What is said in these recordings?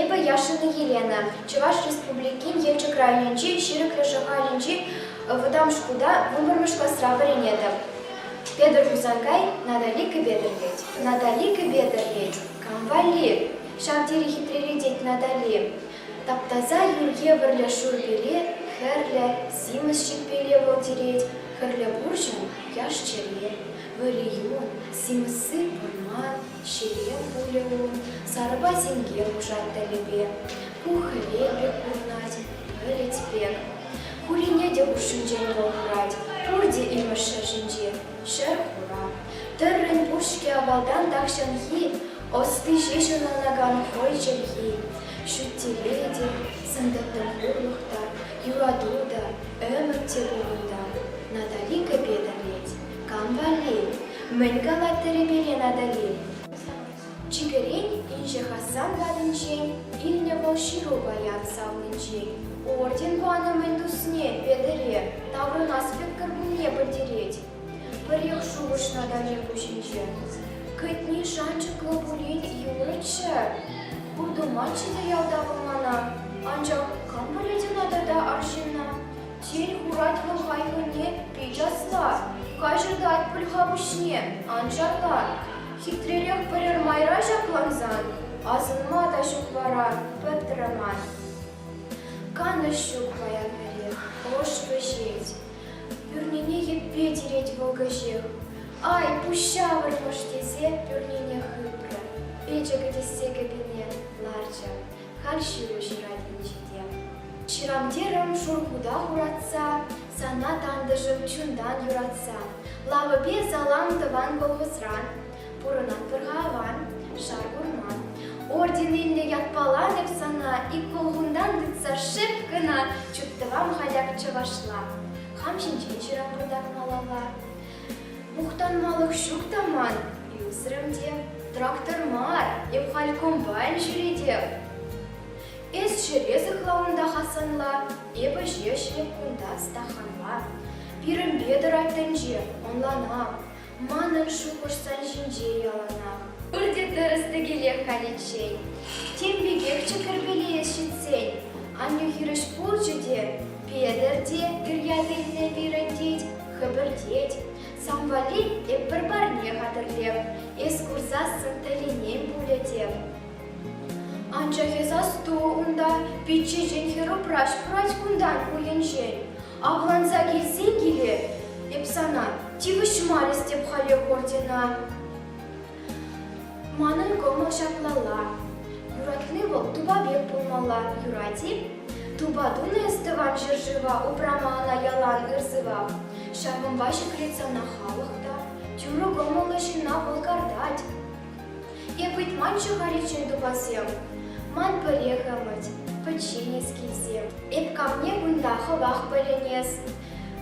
Эпӗ Яшина Елена, Чӑваш Республикин Елчӗк районӗнчи Ҫирӗклӗ Шӑхалӗнчи вӑтам шкулта вунпӗрмӗш класра вӗренетӗп. Петӗр Хусанкай Натали кӗпе-тӗрлет. Натали кӗпе-тӗрлет, кам валли? Ҫав тери хитрелетет Натали. Тап-таса юр евӗрлӗ шурпеле хӗрлӗ симӗс ҫиппеле вӑлтирет, хӗрлӗ курҫӑм яш-чӗре, вӑрӗ юн, симӗсси вӑрман, ҫӗре пулӗ ун, сарӑпа синке пушат тӗлӗпе. Ку хӗвел пек курӑнать, вӗлет пек. Хурине те хушшинчен пӑлхӑрать, пурте имӗш ҫӗр ҫинче, ҫӗр хура. Тыррин пуҫки авалтан тахҫанхи Ӑсти ҫеҫ ӑнланакан хӑй чӗлхи, ҫут-тӗве те, сӑнтӑртӑвлӑх та, юрату та, ӗмӗт-террору та Натали кӗпе тӑрет. Кам валли? Мӗн калаттӑр-и пире Натали? Чикӗрен инҫе Хасан патӗнчен илнӗ вӑл ҫыру паян салончен. Орден панӑ мӗн тусне Петӗре таврӑнас пек кӗркунне пӗлтерет. Пӗр ел шухӑшнӑ Данил пуҫӗнче. Кӗтни шанчӑклӑ пулин юрӗччӗ. Ку тумаччӗ те ялта вӑл мана. Анчах кам пӗлет ӑна тата арҫынна? Тен, хурать вӑл хайхине пит асла, каҫӑртать пыльха пуҫне, анчах та хитререх пӗрер майра ҫаклансан асӑнма та ҫук вара, пӗтрӗ ман. Канӑҫ ҫук паян пӗри, ӑш вӗҫет. Пӳрнене йӗппе тирет вӑл кӗҫех. Ай, пуҫ ҫавӑрмӑш тесе пӳрнене хыпрӗ. Печӗ кӗтессе кӗпине ларчӗ. Халь ҫыру ҫырать инҫете. Ҫырам терӗм шуркута хуратса, Сана, тантӑшӑм, чунтан юратса. Лавӑпе салам тӑван колхозран, Пурӑнатпӑр-ха аван, шар курма. Ордениллӗ ятпала эп сана ик улхунтан тытса шеп кӑна чуптӑвам хаяк чӑвашла. Хам ҫинчен ҫыранпӑртак малалла. Мухтанмалӑх ҫук та ман, ӳсрӗм те. Трактор мар, эп халь комбайн ҫӳретеп. Эс ҫӗре сыхла унта Хасанла, эпӗ ҫеҫ эп кунта стаханла. Пирӗнпе тӑрать тӗнче, ӑнланам. Манӑн шухӑшсем ҫинче яланах. Пурте тӗрӗс-тӗкелех халиччен. Тем пекехчӗ кӗрпелеес ҫитсен. Аннӳ хирӗҫ курчӗ те, Петӗр те, Кӗрьят илнӗ пирӗн тет, хӗпӗртет. Сан валли эп пӗр парне хатӗрлеп, эс курсассӑн тӗлӗнем пулӗ тев. Анчах эс асту унта, пиччешен хӗр упраҫ курать кунтан хулӗнчен. Авланса килсен киле эп сана тивӗҫмарӗстӗп халех ордена. Манӑн кӑмӑл ҫаплалла. Юратни вӑл тупа пек пулмалла, юрать-и? Тупа тунӑ эс тӑван ҫӗршыва, упрама ӑна ялан ыр-сывах. Ҫавӑнпа ҫӗклет сана халӑх та, тӳрӗ кӑмӑллӑ ҫынна вӑл картать. Эп ыйтманччӗ-ха речей тупасем, Ман пӗрех ӗмӗт, пӗчченес килсем. Эп камне кунта хӑвах пӗлӗнес,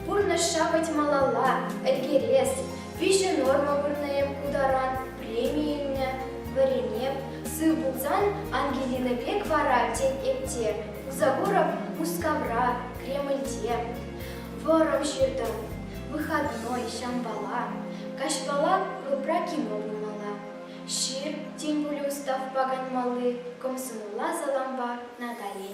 Пурнӑҫра вӗт малалла ӗлкерес. Виҫӗ норма вырнӑ эп ку таран, Преми илнӗ, вӗренеп. Сыв пулсан, Ангелина пек вара, Тен, эп те, Кузагуров Мускавра, Кремльте. Вӑрӑм ҫыртӑр, выходной, ҫампала, каҫпала клубра кино пулмалла. Ҫыр, тем пулин ставпа канмалли кӑмсӑнулла салампа Натали.